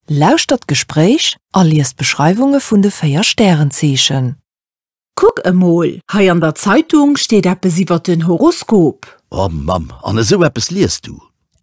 Lauschtert d'Gespréich a liest d'Beschreiwunge vun de véier Stärenzeechen. Kuck emol, hei an der Zeitung steet eppes iwwer den Horoskop. Oh Mamm, an esou eppes liest du?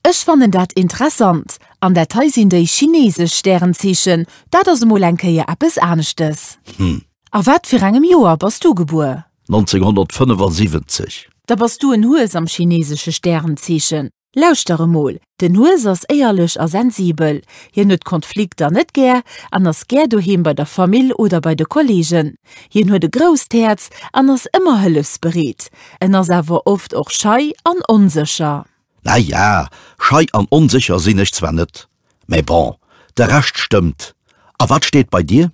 Ech fannen dat interessant. An dat hei sinn déi chineesesch Stärenzeechen. Dat ass emol eng Kéier eppes aneschtes. Hm. A wat fir engem Joer bass du gebuer? 1975. Da bass du en Hues am chineesesche Stärenzeechen. Lauschter emol, den Hues ass éierlech a sensibel. Hien huet Konflikter net gär an ass gär doheem bei der Famill oder bei de Kolleegen. Hien huet e grousst Häerz an ass ëmmer hëllefsbereet. En ass awer oft och schei an onsécher. Naja, schei an onsécher sinn ech zwar net, mä bon, de Rescht stëmmt. A wat steet bei dir?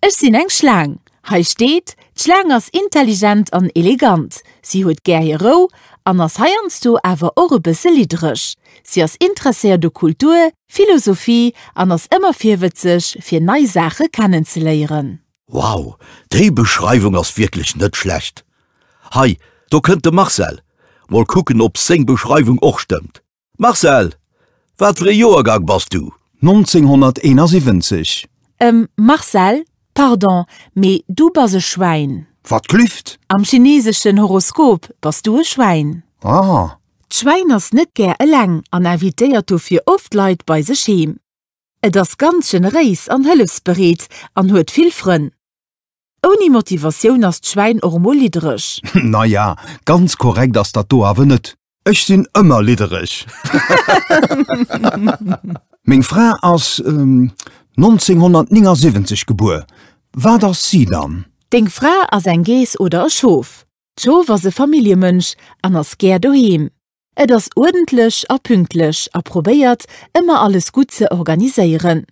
Ech sinn eng Schlaang. Hei steet, D'Schlaang ass intelligent an elegant. Si huet gär hir Rou an ass heiansdo awer och e bësse liddereg. Si ass interesséiert u Kultur, Philosophie an ass ëmmer virwëtzeg, fir nei Saache kennenzeléieren. Wow, déi Beschreiwung ass wierklech net schlecht. Hei, do kënnt de Marcel. Mol kucken, ob seng Beschreiwung och stëmmt. Marcel, wat fir e Joergang bass du? 1971. Ehm, Marcel, pardon, mee du bass e Schwäin. Wat glüft? Am chineseschen Horoskop bass du e Schwäin. Ah. D'Schwäin ass net gär eleng an invitéiert dofir oft Leit bei sech heem. Et ass ganz generéis an hëllefsbereet an huet vill Frënn. Ouni Motivatioun ass d'Schwäin och mol liddereg. Naja, ganz korrekt ass dat do awer net. Ech sinn ëmmer liddereg. Meng Fra ass 1979 gebuer. Wat ass si dann? Deng Fra ass eng Geess oder e Schof? D'Schof ass e Familljemënsch an ass gär doheem. Et ass uerdentlech a pünktlech a probéiert, ëmmer alles gutt ze organiséieren.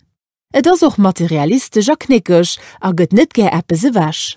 Et ass och materialistesch a knéckeg a gëtt net gär eppes ewech.